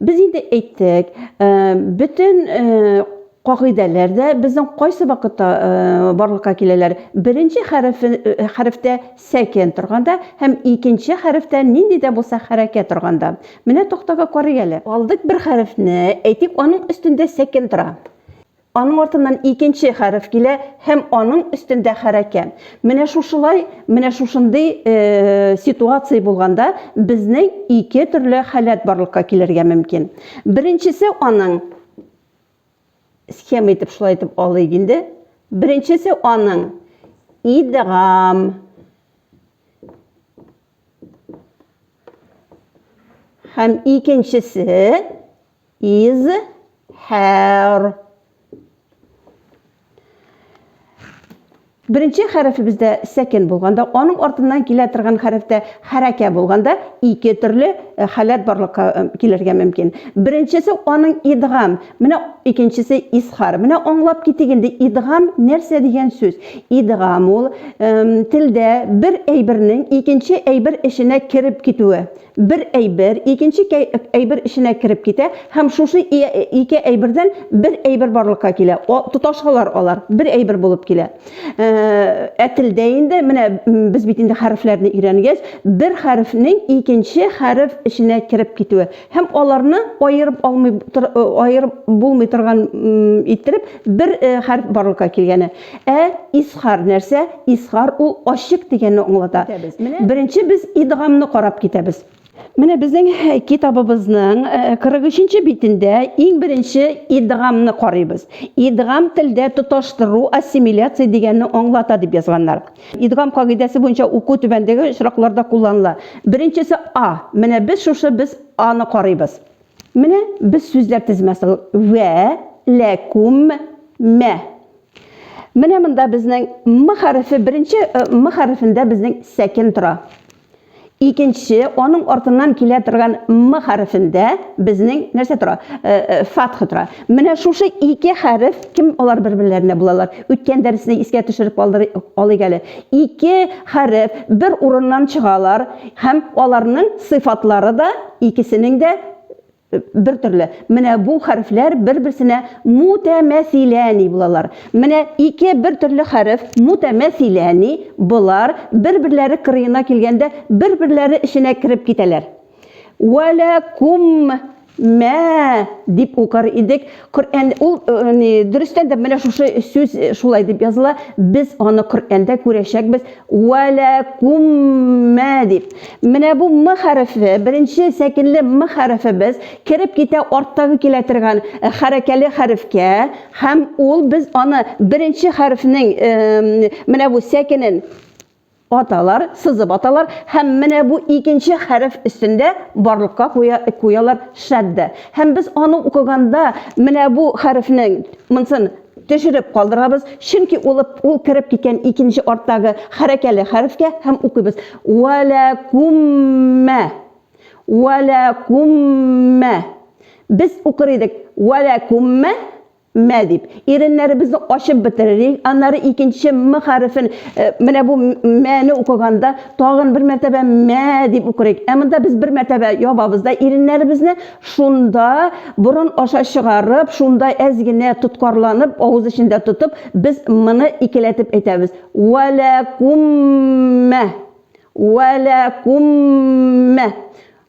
Без инде әйттек, э, бөтен э, кагыйдәләр дә безнең кайсы вакытта э, барлыкка киләләр. Беренче хәрефе, э, хәрефтә сәкен торганда һәм икенче хәрефтә нинди дә булса хәрәкәт торганда. Менә тактага карый әле. Алдык бер хәрефне, әйтик, аның өстендә сәкен тора. Аның артыннан икенче хәреф килә һәм аның өстендә хәрәкә. Менә шушылай, менә шушындый ситуация булганда безнең ике төрле халәт барлыкка килергә мөмкин. Беренчесе аның схема итеп шулай итеп алыйк инде. Беренчесе аның идгам һәм икенчесе is her. Беренче хәрефебездә сәкен булганда, аның артыннан килә торган хәрефтә хәрәкә булганда, ике төрле э, халәт барлыкка э, килергә мөмкин. Беренчесе аның идгам, менә икенчесе исхар. Менә аңлап китик инде, идгам нәрсә дигән сүз? Идгам ул э, телдә бер әйбернең икенче әйбер эченә кереп китүе. Бер әйбер, икенче кәй, әйбер эченә кереп китә һәм шушы ике әйбердән бер әйбер барлыкка килә. О, тоташалар алар, бер әйбер булып килә. Ә, ә телдә инде, менә без бит инде хәрефләрне өйрәнгәч, бер хәрефнең икенче хәреф эченә кереп китүе һәм аларны аерып алмый, аерып булмый торган иттереп бер хәреф барлыкка килгәне. Ә изхар нәрсә? Изхар ул ачык дигәнне аңлата. Беренче без идгамны карап китәбез. Менә безнең китабыбызның 43 нче битендә иң беренче идгамны карыйбыз. Идгам телдә тоташтыру, ассимиляция дигәнне аңлата дип язганнар. Идгам кагыйдәсе буенча уку түбәндәге очракларда кулланыла. Беренчесе А. Менә без шушы без Аны карыйбыз. Менә без сүзләр тезмәсе вә лә күм мә. Менә монда безнең м хәрефе беренче м хәрефендә безнең сәкен тора. Икенче аның артыннан килә торган м хәрефендә безнең нәрсә тора? Фатха тора. Менә шушы ике хәреф кем алар бер-берләренә булалар? Үткән дәресне искә төшереп алыйк әле. Ике хәреф бер урыннан чыгалар һәм аларның сыйфатлары да Икесенең дә бер төрле. Менә бу хәрефләр бер-берсенә мутәмәсиләни булалар. Менә ике бер төрле хәреф мутәмәсиләни, болар бер-берләре кырыена килгәндә бер-берләре эченә кереп китәләр. Вәләкум мә дип укыр идек. Коръән ул ни дөрестән дә менә шушы сүз шулай дип языла. Без аны Коръәндә күрәчәкбез. Валакум ма дип. Менә бу м хәрефе, беренче сәкенле м хәрефебез кереп китә арттагы килә торган хәрәкәле хәрефкә һәм ул без аны беренче хәрефнең менә бу сәкенен Аталар, сызып аталар һәм менә бу икенче хәреф өстендә барлыкка куя, куялар шаддә. Һәм без аны укыганда менә бу хәрефнең монсын төшереп калдырабыз, чөнки ул ул кереп киткән икенче арттагы хәрәкәле хәрефкә һәм укыйбыз. Вә лә кум мә. Вә лә кум мә. Без укыр идек. Вә лә кум мә. Мә дип, иреннәребезне ачып бетерерик, аннары икенче м хәрефен, э, менә бу мәне укыганда тагын бер мәртәбә мә дип укырыйк. Ә монда без бер мәртәбә ябабыз да иреннәребезне, шунда борын аша чыгарып, шунда әз генә тоткарланып, авыз эчендә тотып, без моны икеләтеп әйтәбез. Вәләкуммә. Вәләкуммә.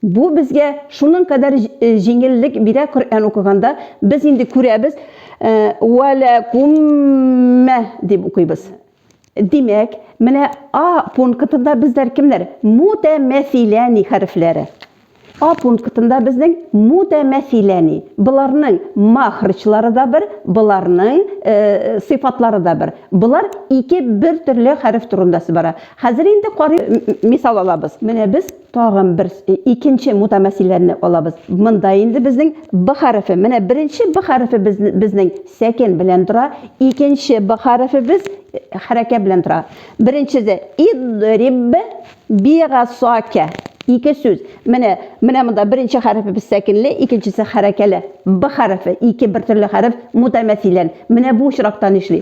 Бу безгә шуның кадәр җиңеллек бирә Коръән укыганда, без инде күрәбез, Вә лә куммә дип укыйбыз. Димәк, менә А пунктында безләр кемнәр? Мутәмәсиләни хәрефләре. А пунктында безнең мутәмәсиләни. Боларның махрычлары да бер, боларның э, сыйфатлары да бер. Болар ике бер төрле хәреф турында бара. Хәзер инде карый мисал алабыз. Менә без Тагын бер икенче мутамәсилләрне алабыз. Монда инде безнең б хәрефе. Менә беренче б хәрефе безнең сәкен белән тора, икенче б хәрефе без хәрәкә белән тора. Беренчесе идриб бигасака. Ике сүз. Менә менә монда беренче хәрефе без сәкенле, икенчесе хәрәкәле. Б хәрефе, ике бер төрле хәреф мутамәсилләр. Менә бу очракта нишли?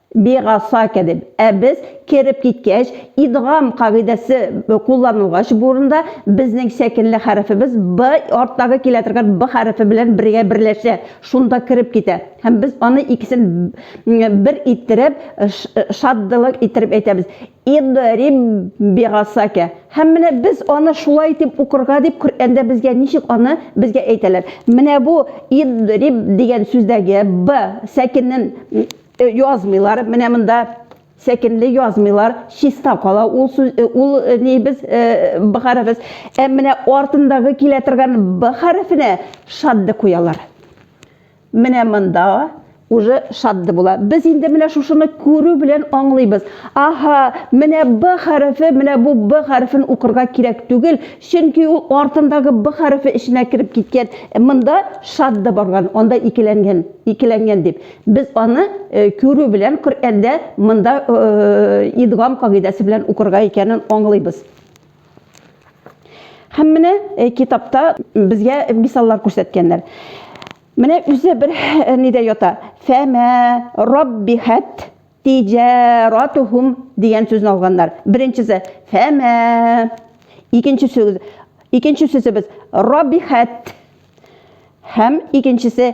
Бигасака дип. Ә без, кереп киткәч, идгам кагыйдәсе кулланылгач бу урында, безнең сәкенле хәрефебез б арттагы килә торган б хәрефе белән бергә берләшә, шунда кереп китә. Һәм без аны икесен бер иттереп, шаддылык иттереп әйтәбез, Идриб бигасака. Һәм менә без аны шулай итеп укырга дип Коръәндә безгә ничек аны безгә әйтәләр. Менә бу идриб дигән сүздәге б сәкенен Э, язмыйлар, менә монда сәкенле язмыйлар, чиста кала ул сүз, э, ул э, нибез б хәрефез. Ә менә артындагы килә торган б хәрефенә шадды куялар. Менә монда уже шадды була. Без инде менә шушыны күрү белән аңлыйбыз. Аха, менә б хәрефе, менә бу б хәрефен укырга кирәк түгел, чөнки ул артындагы б хәрефе эченә кереп киткән. Монда шадды барган, анда икеләнгән, икеләнгән дип. Без аны күрү белән Коръәндә монда идгам кагыйдәсе белән укырга икәнен аңлыйбыз. Һәм менә китапта безгә мисаллар күрсәткәннәр. Менә үзе бер нидә ята. Фәмә раббихәт тиҗаратухум дигән сүзне алганнар. Беренчесе фәмә. Икенче сүз икенче сүзебез раббихәт. Һәм икенчесе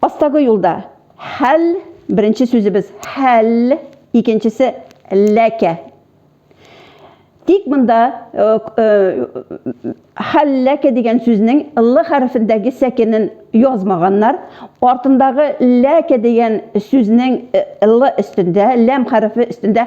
Астагы юлда хәл, беренче сүзебез хәл, икенчесе ләкә. Тик монда э, э, хәл ләкә дигән сүзнең л хәрефендәге сәкенен язмаганнар. Артындагы ләкә дигән сүзнең э, л өстендә, ләм хәрефе өстендә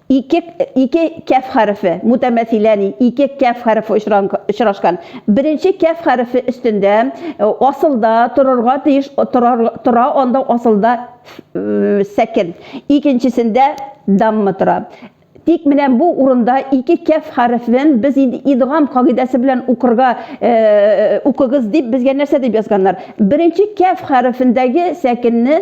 Ике, ике кәф хәрефе, мутәмәсиләни, ике кәф хәрефе очрашкан. Беренче кәф хәрефе өстендә э, асылда торырга тиеш, торар, тора анда асылда э, сәкен. Икенчесендә дамма тора. Тик менә бу урында ике кәф хәрефен без инде идгам кагыйдәсе белән укырга э, укыгыз дип безгә нәрсә дип язганнар? Беренче кәф хәрефендәге сәкенне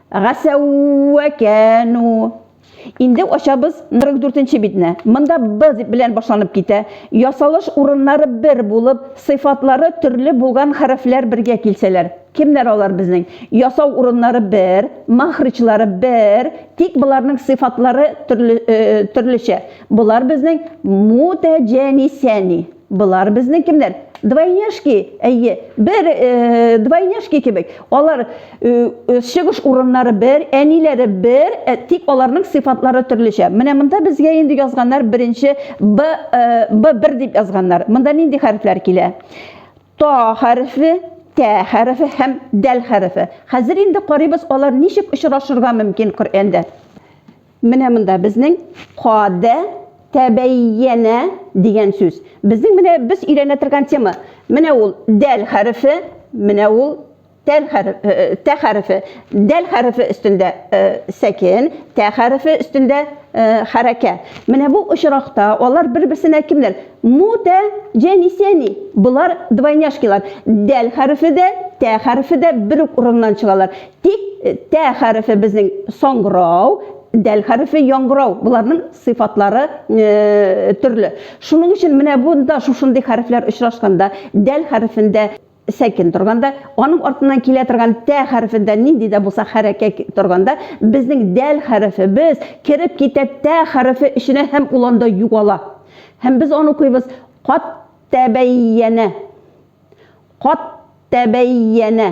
Гасәүәкәну. Инде ачабыз 44-нче битне. Монда б белән башланып китә. Ясалыш урыннары бер булып, сыйфатлары төрле булган хәрефләр бергә килсәләр. Кемнәр алар безнең? Ясау урыннары бер, махричлары бер, тик боларның сыйфатлары төрле, төрлечә. Болар безнең мутәҗәнисәни. Болар безнең кемнәр? Двойняшки, әйе, бер э, двойняшки кебек. Алар э, чыгыш урыннары бер, әниләре бер, э, тик аларның сыйфатлары төрлечә. Менә монда безгә инде язганнар беренче Б, э, Б1 дип язганнар. Монда нинди хәрефләр килә? Та хәрефе, тә хәрефе һәм дәл хәрефе. Хәзер инде карыйбыз, алар ничек очрашырга мөмкин Коръәндә. Менә монда безнең кадә тәбәйянә дигән сүз. Безнең менә без өйрәнә торган тема. Менә ул дәл хәрефе, менә ул тәл хәрефе, э, э, тә хәрефе. Дәл хәрефе өстендә э, сәкен, тә хәрефе өстендә э, хәрәкә. Менә бу очракта алар бер-берсенә кемнәр? Мута, җәнисәни. Болар двойняшкилар. Дәл хәрефе дә, тә хәрефе дә бер үк урыннан чыгалар. Тик э, тә хәрефе безнең соңгырау, дәл хәрефе яңгырау. Боларның сыйфатлары э, төрле. Шуның өчен менә бунда шушындый хәрефләр очрашканда, дәл хәрефендә сәкен торганда, аның артыннан килә торган тә хәрефендә нинди дә булса хәрәкәт торганда, безнең дәл хәрефе без кереп китә тә хәрефе эченә һәм ул анда югала. Һәм без аны укыйбыз кат тәбәйянә. Кат тәбәйянә.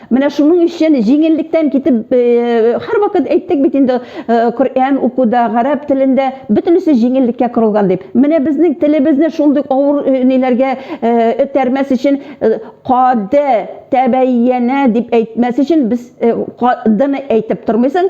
Менә шуның өчен җиңеллектән китеп, э, һәрвакыт әйттек бит инде, э, Коръән укуда, гарәп телендә бөтенесе җиңеллеккә корылган дип. Менә безнең телебезне шундый авыр э, ниләргә этәрмәс өчен каде тәбәйянә дип әйтмәс өчен без кадыны әйтеп тормыйсың,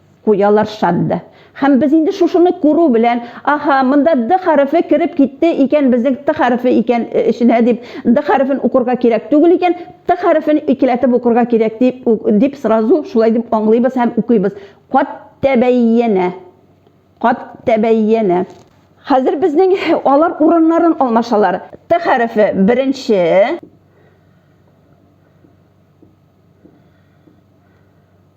Куялар шат д. Һәм без инде шушыны күрү белән, Аһа, монда д хәрефе кереп китте икән безнең т хәрефе икән эченә дип, д хәрефен укырга кирәк түгел икән, т хәрефен икеләтеп укырга кирәк дип, дип сразу шулай дип аңлыйбыз һәм укыйбыз. Кад тәбәйянә. Кад тәбәйянә. Хәзер безнең алар урыннарын алмашалар. Т хәрефе беренче.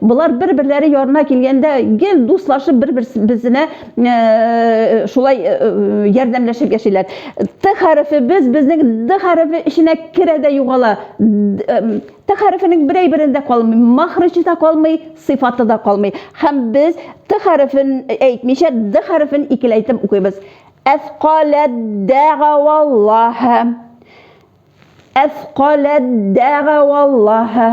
Болар бер-берләре ярына килгәндә гел дуслашып бер-берсенә э, шулай э, э, ярдәмләшеп яшиләр. Т хәрефе без безнең Д хәрефе эченә керә дә югала. Т хәрефенең берәй берендә калмый, махрычы да калмый, сыйфаты да калмый. Һәм без Т хәрефен әйтмичә Д хәрефен икеләйтеп укыйбыз. Әсқаләт дәгаваллаһа. Әфкаләт дәгаваллаһа.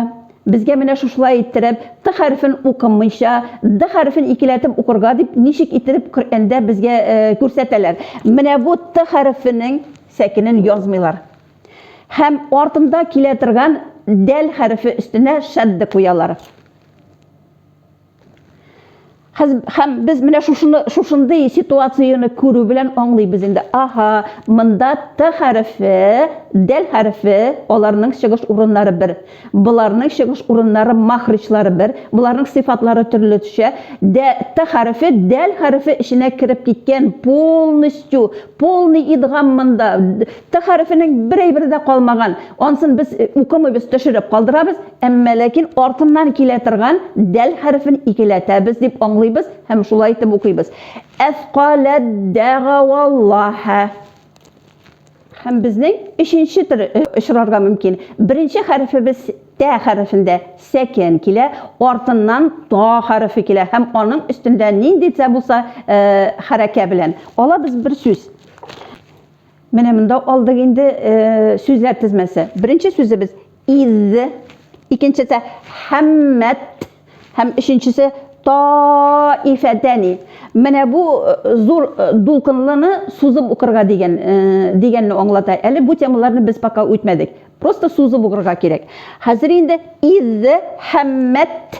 Безгә менә шушылай иттереп, Т хәрефен укымыйча, Д хәрефен икеләтеп укырга дип ничек иттереп Коръәндә безгә күрсәтәләр. Менә бу Т хәрефенең сәкенен язмыйлар. Һәм артында килә торган дәл хәрефе өстенә шәдде куялар. Хәз, хәм без менә шушыны шушындый ситуацияне күрү белән аңлыйбыз инде. Аһа, монда т хәрефе, дәл хәрефе, аларның чыгыш урыннары бер. Боларның чыгыш урыннары махричлары бер, боларның сыйфатлары төрлечә. Дә т хәрефе дәл хәрефе эченә кереп киткән полностью, полный идгам монда. Т хәрефенең бер әйбере дә калмаган. Ансын без укымыйбыз, төшереп калдырабыз. Әмма ләкин артыннан килә торган дәл хәрефен икеләтәбез дип аңлыйбыз һәм шулай итеп укыйбыз. Әфкаләддәгаваллаһә. Һәм безнең өченче төр э, очрарга мөмкин. Беренче хәрефебез тә хәрефендә сәкен килә, артыннан та хәрефе килә һәм аның өстендә ниндидә булса э, хәрәкә белән. Алабыз бер сүз. Менә монда алдык инде сүзләр тезмәсе. Беренче сүзебез из, икенчесе хаммат һәм өченчесе таифәтәни. Менә бу зур дулкынлыны сузып укырга дигән дигәнне аңлата. Әле бу темаларны без пока үтмәдек. Просто сузып укырга кирәк. Хәзер инде из хаммат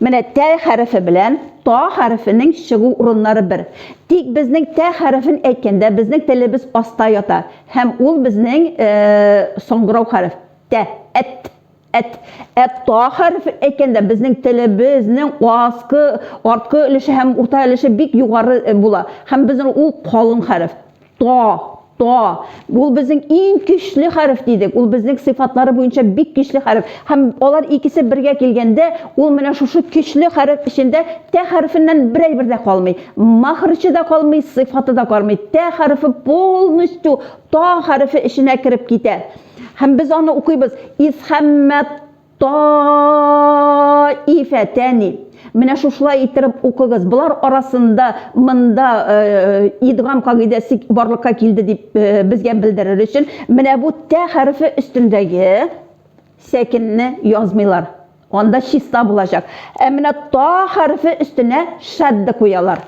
Менә тә хәрефе белән та хәрефенең чыгу урыннары бер. Тик безнең тә хәрефен әйткәндә безнең телебез аста ята һәм ул безнең соңгырау хәреф, тә, әт, әт. Ә та хәрефен әйткәндә безнең телебезнең аскы, арткы өлеше һәм урта өлеше бик югары була һәм безнең ул калын хәреф. Та, та. Ул безнең иң көчле хәреф дидек. Ул безнең сыйфатлары буенча бик көчле хәреф. Һәм алар икесе бергә килгәндә, ул менә шушы көчле хәреф эчендә тә хәрефеннән бер әйбер дә калмый. Махрычы да калмый, сыйфаты да калмый. Тә хәрефе полностью та хәрефе эченә кереп китә. Һәм без аны укыйбыз. Исхәммәт Таифәтәни. Менә шушылай иттереп укыгыз. Болар арасында монда э, идгам кагыйдәсе барлыкка килде дип э, безгә белдерер өчен менә бу тә хәрефе өстендәге сәкенне язмыйлар. Анда чиста булачак. Ә менә та хәрефе өстенә шәдде куялар.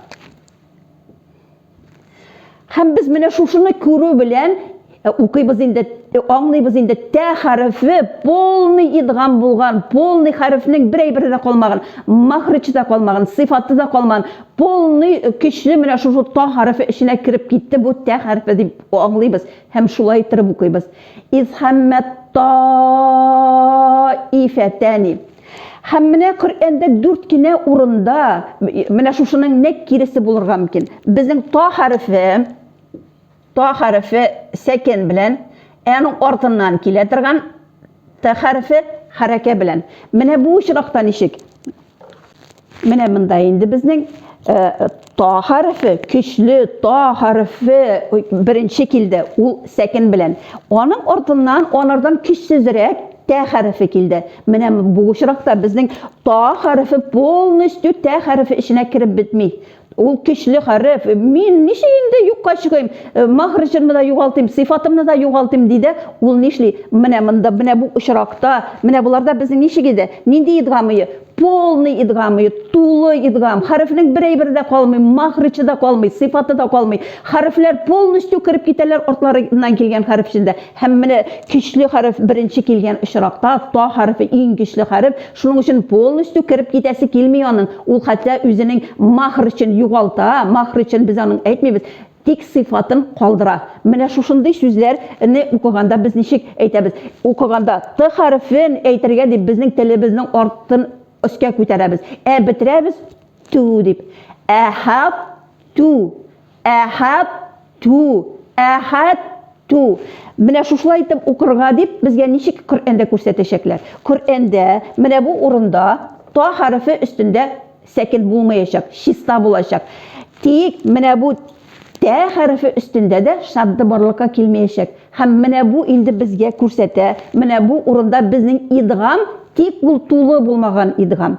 Һәм без менә шушыны күрү белән э, укыйбыз инде, э, аңлыйбыз инде, тә хәрефе полный идгам булган, полный хәрефнең бер әйбере дә калмаган, махрычы да калмаган, сыйфаты да калмаган, полный э, көчле менә шушы та хәрефе эченә кереп китте, бу тә хәрефе дип аңлыйбыз һәм шулай иттереп укыйбыз. Изхәммәт таифәтәни. Һәм менә Коръәндә дүрт кенә урында менә шушының нәкъ киресе булырга мөмкин. Безнең та хәрефе та хәрефе сәкен белән, әның артыннан килә торган та хәрефе хәрәкә белән. Менә бу очракта ничек? Менә монда инде безнең э, та хәрефе, көчле та хәрефе беренче килде, ул сәкен белән. Аның артыннан, анардан көчсезрәк тә хәрефе килде. Менә бу очракта безнең та хәрефе полностью тә хәрефе эченә кереп бетми. Ул көчле хәреф. Мин ничек инде юкка чыгыйм? Э, Махр җырны да югалтыйм, сыйфатымны да югалтыйм ди дә, ул нишли? Менә монда, менә бу очракта, менә боларда безнең ничек иде? Нинди идгам ие? Полный идгам ие, тулы идгам. Хәрефнең бер әйбере дә калмый, махрычы да калмый, сыйфаты да калмый. Хәрефләр полностью кереп китәләр артларыннан килгән хәрефчендә. Һәм менә көчле хәреф беренче килгән очракта, та хәрефе иң көчле хәреф, шуның өчен полностью кереп китәсе килми аның, ул хәтта үзенең мәхрҗен югалта, мәхрҗен без аның әйтмибез, тик сыйфатын калдыра. Менә шушындый сүзләр не укыганда без ничек әйтәбез? Укыганда т хәрефен әйтергә дип безнең телебезнең артын өскә күтәрәбез, ә бетерәбез ту дип. Әһәт ту. Әхәт ту, әхәт ту. Менә шушылай итеп укырга дип, безгә ничек Коръәндә күрсәтәчәкләр. Коръәндә менә бу урында та хәрефе өстендә сәкен булмаячак, чиста булачак. Тик менә бу тә хәрефе өстендә дә шадда барлыкка килмәячәк. Һәм менә бу инде безгә күрсәтә, менә бу урында безнең идгам, тик ул тулы булмаган идгам.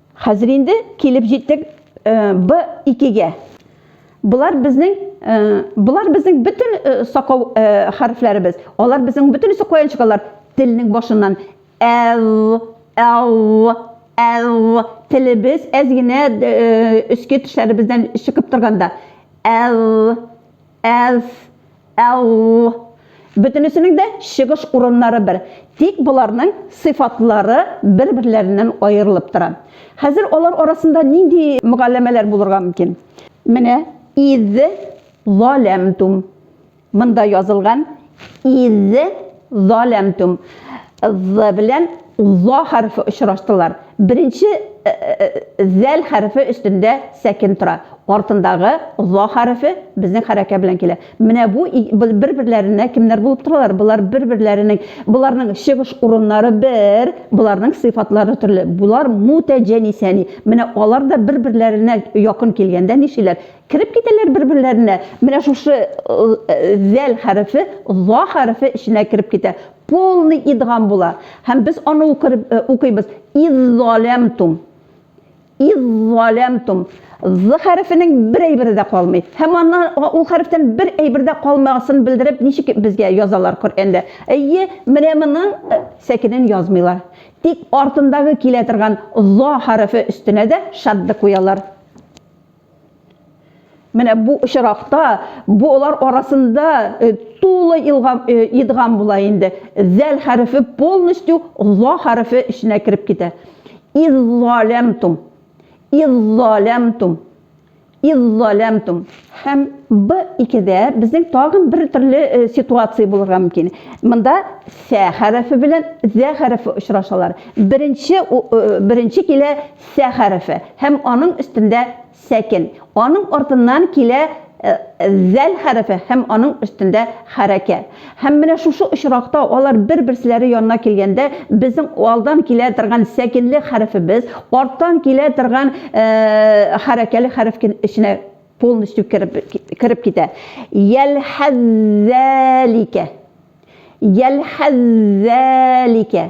Хәзер инде килеп җиттек Б2-гә. Болар безнең болар безнең бөтен сакау хәрефләребез. Алар безнең бөтен сакоян чыгалар телнең башыннан. Л, л, л. Телебез әз генә өске тешләребездән чыгып торганда. Л. әз, әу. Бөтенесенең дә чыгыш урыннары бер, тик боларның сыйфатлары бер-берләреннән аерылып тора. Хәзер алар арасында нинди мөгалләмәләр булырга мөмкин? Менә, Из заләмтум. Монда язылган Из заләмтүм. З белән за хәрефе очраштылар. Беренче зәл хәрефе өстендә сәкен тора. Артындагы за хәрефе безнең хәрәкә белән килә. Менә бу бер-берләренә кемнәр булып торалар? Болар бер-берләренең, боларның чыгыш урыннары бер, боларның сыйфатлары төрле. Болар мутәҗәнисәни. Менә алар да бер-берләренә якын килгәндә нишиләр? Кереп китәләр бер-берләренә. Менә шушы зәл хәрефе за хәрефе эченә кереп китә. Полный идгам була. Һәм без аны укыйбыз. Иззалямтум. Иззалямтум. З хәрефенең бер әйбере дә калмый. Һәм аны ул хәрефтән бер әйбер дә калмагасын белдереп, ничек безгә язалар Коръәндә? Әйе, менә моның сәкенен язмыйлар. Тик артындагы килә торган за хәрефе өстенә дә шадды куялар. Менә бу очракта болар арасында э, тулы э, идгам була инде. Зәл хәрефе полностью за хәрефе эченә кереп китә. Иззалямтум. Иззалямтум. Иззалямтум. Һәм б икедә безнең тагын бер төрле э, ситуация булырга мөмкин. Монда сә хәрефе белән зә хәрефе очрашалар. Беренче беренче килә Сә хәрефе һәм аның өстендә сәкен. Аның артыннан килә зәл хәрефе һәм аның өстендә хәрәкә. Һәм менә шушы очракта алар бер-берселәре янына килгәндә, безнең алдан килә торган сәкенле хәрефебез арттан килә торган хәрәкәле хәреф эченә полностью кереп китә. Йәлхәззәликә. Йәлхәззәликә.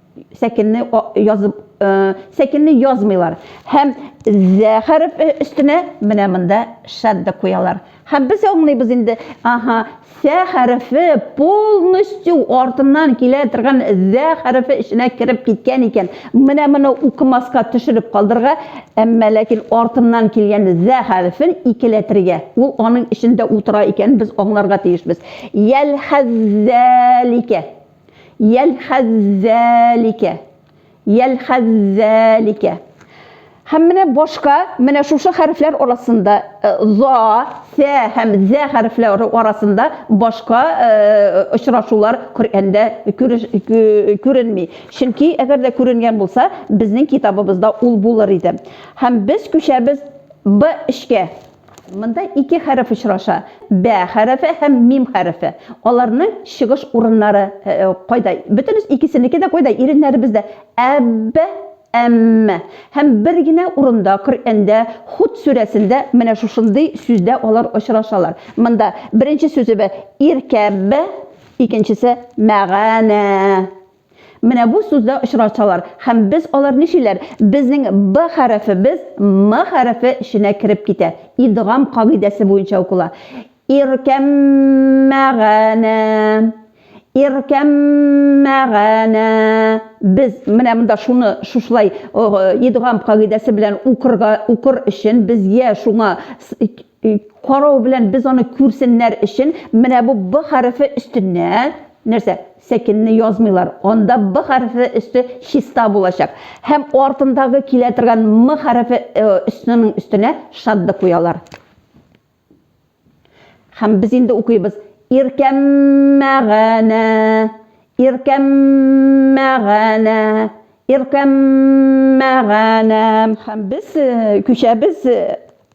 сәкенне язып сәкенне язмыйлар һәм зә хәреф өстенә менә монда шадда куялар һәм без аңлыйбыз инде аһа сә хәрефе полностью артыннан килә торган зә хәрефе эченә кереп киткән икән менә моны укымаска төшереп калдырга әмма ләкин артыннан килгән зә хәрефен икеләтергә ул аның эчендә утыра икән без аңларга тиешбез ял хәззәликә Йәлхәззәликә. Йәлхәззәликә. Һәм менә башка, менә шушы хәрефләр арасында, э, за, сә һәм зә хәрефләре арасында башка, э, очрашулар Коръәндә күреш, кө, күренми. Чөнки, әгәр дә күренгән булса, безнең китабыбызда ул булыр иде. Һәм без күчәбез Б эшкә. Монда ике хәреф очраша, бә хәрефе һәм мим хәрефе. Аларның чыгыш урыннары кайда? Бөтенес икесенеке дә кайда? Иреннәребездә. Әб, әмм. Һәм бер генә урында Коръәндә, Худ сүрәсендә менә шушындый сүздә алар очрашалар. Монда беренче сүзебе иркәб, икенчесе мәганә. Менә бу сүздә очрашалар һәм без алар ничиләр? Безнең Б хәрефебез М хәрефе эченә кереп китә. Идгам кагыйдәсе буенча укыла. Иркәммәгәнә. Иркәммәгәнә. Без менә монда шуны шушылай идгам кагыйдәсе белән укырга укыр өчен без я шуңа карау белән без аны күрсеннәр өчен менә бу б хәрефе өстенә нәрсә сәкенне язмыйлар анда б хәрефе өсте чиста булачак һәм артындагы килә торган м хәрефе өстенең өстенә шадда куялар һәм без инде укыйбыз иркәммәгәнә иркәммәгәнә иркәммәгәнә һәм без күчәбез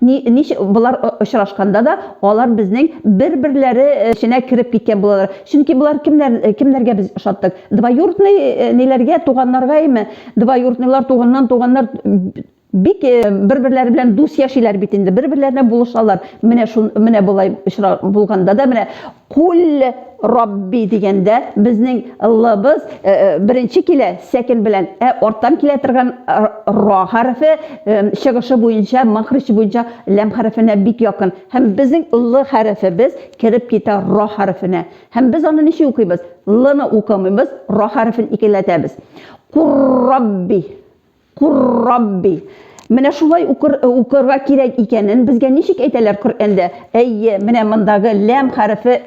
Ни, нич болар очрашканда да, алар безнең бер-берләре эченә кереп киткән булалар. Чөнки болар кемнәр, кемнәргә без ошаттык? Двоюртный ниләргә, туганнаргаймы? Двоюртныйлар, туганнан туганнар бик бер-берләре белән дус яшиләр бит инде, бер-берләренә булышалар. Менә шун, менә болай очра булганда да, менә Куль Рабби дигәндә безнең лыбыз э, э, беренче килә сәкен белән, ә арттан килә торган э, ра хәрефе чыгышы буенча, махрич буенча ләм хәрефенә бик якын. Һәм безнең л хәрефебез кереп китә ра хәрефенә. Һәм без аны ничек укыйбыз? Лны укымыйбыз, ра хәрефен икеләтәбез. Кур Рабби Кур Рабби. Менә шулай укыр, укырга кирәк икәнен безгә ничек әйтәләр Коръәндә? Әйе, менә мондагы ләм хәрефе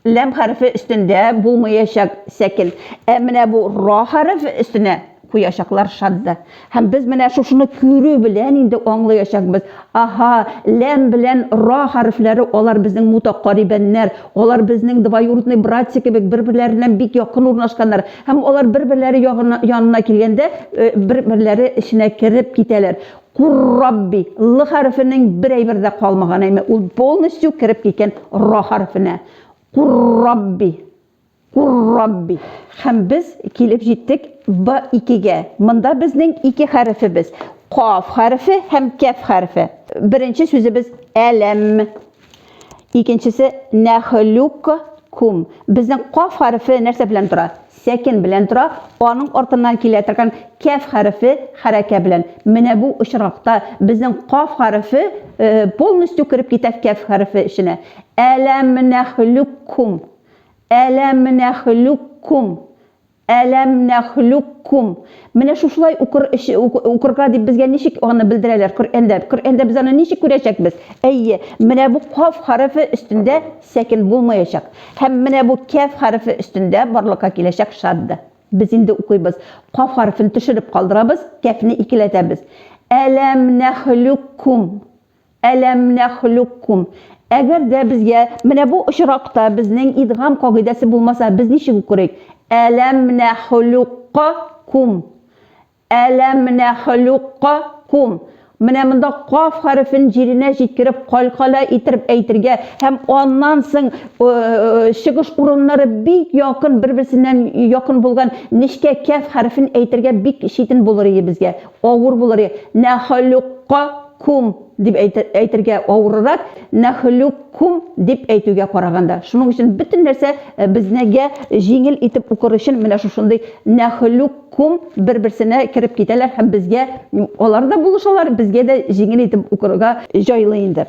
ләм хәрефе өстендә булмаячак сәкел. Ә менә бу ра хәреф өстенә куячаклар шадда. Һәм без менә шушыны күрү белән инде аңлаячакбыз. Аһа, ләм белән ра хәрефләре алар безнең мутакарибәннәр, Алар безнең двоюродный братья кебек бер-берләреннән бик якын урнашканнар һәм алар бер-берләре ягына, янына килгәндә, э, бер-берләре эченә кереп китәләр. Кур Рабби, Л хәрефенең бер әйбер дә калмаган, әйме, ул полностью кереп киткән Ра хәрефенә. Кур Рабби. Ур-Рабби! Һәм без килеп җиттек Б-икегә. Монда безнең ике хәрефебез, Каф хәрефе һәм Кәф хәрефе. Беренче сүзебез Әләм. Икенчесе Нәхлюк кум. Безнең Каф хәрефе нәрсә белән тора? Сәкен белән тора. Аның артыннан килә торган Кәф хәрефе хәрәкә белән. Менә бу очракта безнең Каф хәрефе полностью кереп китә Кәф хәрефе эченә. Әләм нәхлюк кум. Әләм нәхлүккүм, Әләм нәхлүккүм. Менә шушылай укыр, укырга дип безгә ничек аны белдерәләр Коръәндә? Коръәндә без аны ничек күрәчәкбез? Әйе, менә бу каф хәрефе өстендә сәкен булмаячак. Һәм менә бу кәф хәрефе өстендә барлыкка киләчәк шадда. Без инде укыйбыз. Каф хәрефен төшереп калдырабыз, кәфне икеләтәбез. Әләм нәхлүккүм. Әләм нәхлүккүм. Әгәр дә безгә менә бу очракта безнең идгам кагыйдәсе булмаса, без ничек укырыйк? Әләм нәхлүккө күм. Әләм нәхлүккө күм. Менә монда каф хәрефен җиренә җиткереп, калькалә иттереп әйтергә һәм аннан соң чыгыш урыннары бик якын, бер-берсеннән якын булган нечкә кәф хәрефен әйтергә бик читен булыр ие безгә, авыр булыр ие. Нәхлүккө Кум дип әйтергә авырырак, мәхлук кум дип әйтүгә караганда. Шуның өчен бөтен нәрсә безнегә җиңел итеп укыр өчен менә шушындый мәхлук кум бер-берсенә кереп китәләр һәм безгә алар да булышалар, безгә дә җиңел итеп укырга җайлы инде.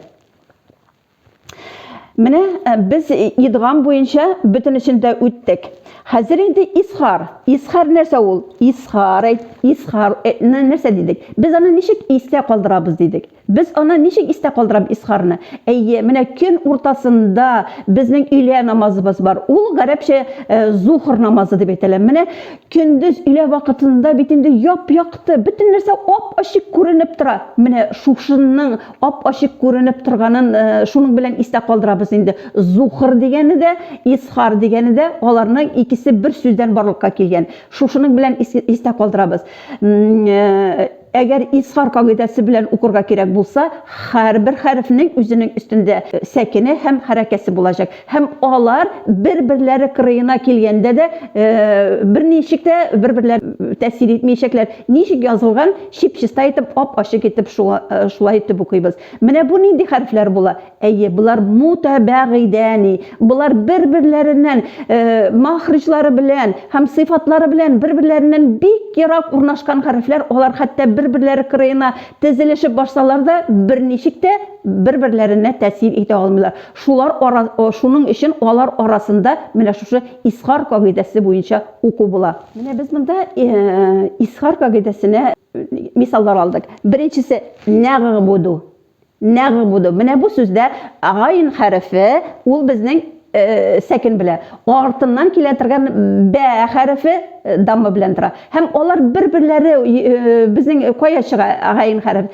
Менә э, без идгам буенча бөтенесен дә үттек. Хәзер инде исхар. Исхар нәрсә ул? Исхар, исхар э, нәрсә дидек? Без аны ничек истә калдырабыз дидек. Без аны ничек истә калдырабыз исхарны? Әйе, менә көн уртасында безнең өйлә намазыбыз бар. Ул гарәпчә э, зухр намазы дип әйтелә. Менә көндез өйлә вакытында бит инде яп-якты, бөтен нәрсә ап-ачык күренеп тора. Менә шушынның ап-ачык күренеп торганын э, шуның белән истә калдырабыз инде. Зухр дигәне дә, исхар дигәне дә аларның икесе бер сүздән барлыкка килгән. Шушының белән истә калдырабыз. Э, әгәр исхар кагыйдәсе белән укырга кирәк булса, һәрбер хәрефнең үзенең өстендә сәкене һәм хәрәкәсе булачак. Һәм алар бер-берләре кырыена килгәндә дә берничек тә бер-берләр тәэсир итмәячәкләр. Ничек язылган, чип-чиста итеп, ап-ачык итеп шулай итеп укыйбыз. Менә бу нинди хәрефләр була? Әйе, болар мутәбәгыйдәни. Болар бер-берләреннән мәхриҗлары белән һәм сыйфатлары белән бер-берләреннән бик ерак урнашкан хәрефләр. Алар хәтта бер-берләре кырыена тезелешеп барсалар да, берничек тә бер-берләренә тәэсир итә алмыйлар. Шулар Шуның өчен алар арасында менә шушы Исхар кагыйдәсе буенча уку була. Менә без монда Исхар кагыйдәсенә мисаллар алдык. Беренчесе, нәгъбуду. Нәгъбуду. Менә бу сүздә гайн хәрефе, ул безнең сәкен белә. Артыннан килә торган бә хәрефе дамма белән тора. Һәм алар бер-берләре безнең кая чыга гайн хәреф?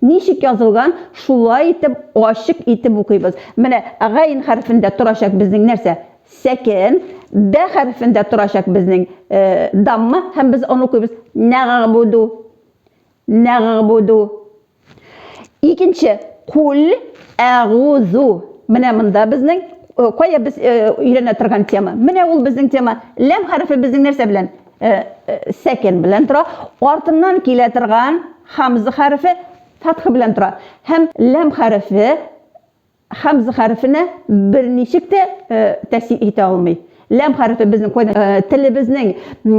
Ничек язылган, шулай итеп, ачык итеп укыйбыз. Менә гайн хәрефендә торачак безнең нәрсә? Сәкен. Бә хәрефендә торачак безнең э, дамма, һәм без аны укыйбыз. Нәгъбуду. Нәгъбуду. Икенче, кул әгузу. Менә монда безнең э, кая без э, өйрәнә торган тема? Менә ул безнең тема. Ләм хәрефе безнең нәрсә белән? Э, э, сәкен белән тора, артыннан килә торган хамза хәрефе фатха белән тора. Һәм ләм хәрефе хамза хәрефенә берничек тә э, тәэсир итә алмый. Ләм хәрефе безнең кайда э, телебезнең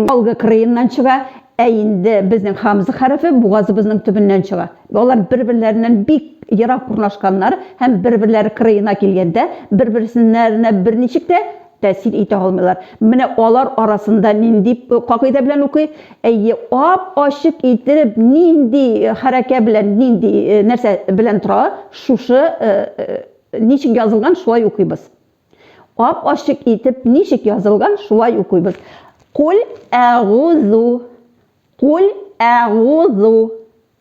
алгы кырыеннан чыга, ә инде безнең хамза хәрефе бугазыбызның төбеннән чыга. Алар бер-берләреннән бик ерак урнашканнар һәм бер-берләре кырыена килгәндә, бер-берсеннәренә берничек тә тәэсир итә алмыйлар. Менә алар арасында нинди кагыйдә белән укый? Әйе, ап-ачык итеп нинди хәрәкә белән, нинди нәрсә белән тора, шушы ничек язылган, шулай укыйбыз. Ап-ачык итеп ничек язылган, шулай укыйбыз. Куль әгузу. Куль әгузу.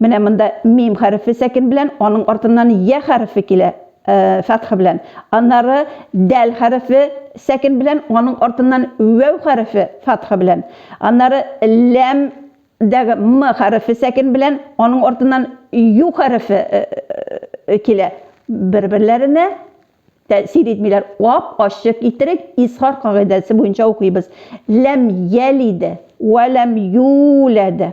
Менә монда мим хәрефе сәкен белән, аның артыннан я хәрефе килә, э, фәтха белән. Аннары дәл хәрефе сәкен белән, аның артыннан вәү хәрефе фәтха белән. Аннары ләм дәге м хәрефе сәкен белән, аның артыннан ю хәрефе э, э, килә. Бер-берләренә тәэсир итмиләр. Ап ачык иттерик, исхар кагыйдәсе буенча укыйбыз. Ләм ялиде, вә ләм юләде.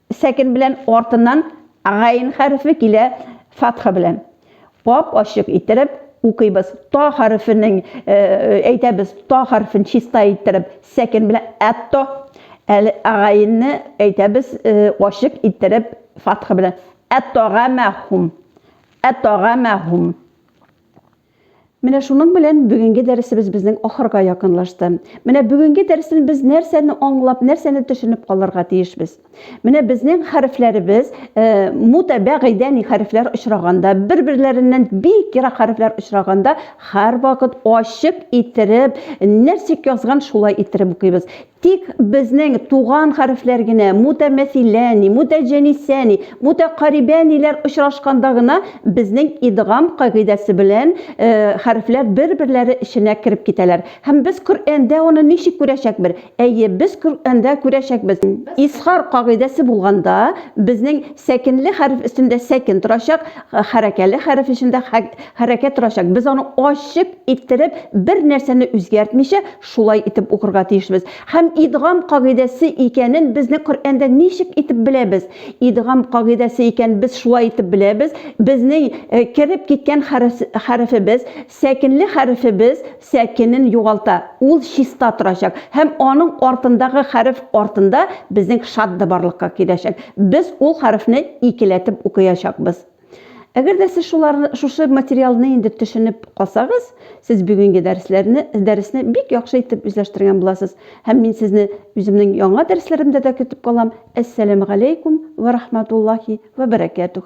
Сәкен белән артыннан гайн хәрефе килә фатха белән. Ап-ачык иттереп укыйбыз. Та хәрефенең әйтәбез, та хәрефен чиста иттереп сәкен белән әт-то. Әле гайнне әйтәбез ачык иттереп фатха белән. Әт-тагамәхум. Әт-тагамәхум. Менә шуның белән бүгенге дәресебез безнең ахырга якынлашты. Менә бүгенге дәрестән без нәрсәне аңлап, нәрсәне төшенеп калырга тиешбез? Менә безнең хәрефләребез, э, мутәбә гыйдәни хәрефләр очраганда, бер-берләреннән бик ерак хәрефләр очраганда, һәрвакыт ачык иттереп, нәрсә язган шулай иттереп укыйбыз. Тик безнең туган хәрефләр генә мутәмәсиләни, мутәҗәнисәни, мутәкарибәниләр очрашканда гына безнең идгам кагыйдәсе белән хәрефләр бер-берләре эченә кереп китәләр. Һәм без Коръәндә аны ничек күрәчәкбер? Әйе, без Коръәндә күрәчәкбез. Изхар кагыйдәсе булганда, безнең сәкенле хәреф өстендә сәкен торачак, хәрәкәле хәреф өчендә хәрәкә торачак. Без аны ачык иттереп, бер нәрсәне үзгәртмичә, Шулай итеп укырга тиешбез. Һәм идгам кагыйдәсе икәнен безне Коръәндә ничек итеп беләбез? Идгам кагыйдәсе икән без шулай итеп беләбез, безнең кереп киткән хәрефебез, сәкенле хәрефебез сәкенен югалта, ул чиста торачак, һәм аның артындагы хәреф артында безнең шадда барлыкка киләчәк. Без ул хәрефне икеләтеп укыячакбыз. Әгәр дә сез шулар, шушы материалны инде төшенеп калсагыз, сез бүгенге дәресләрне, дәресне бик яхшы итеп үзләштергән буласыз. Һәм мин сезне үземнең яңа дәресләремдә дә көтеп калам. Әссәламу алейкум ва рахматуллахи ва баракатух.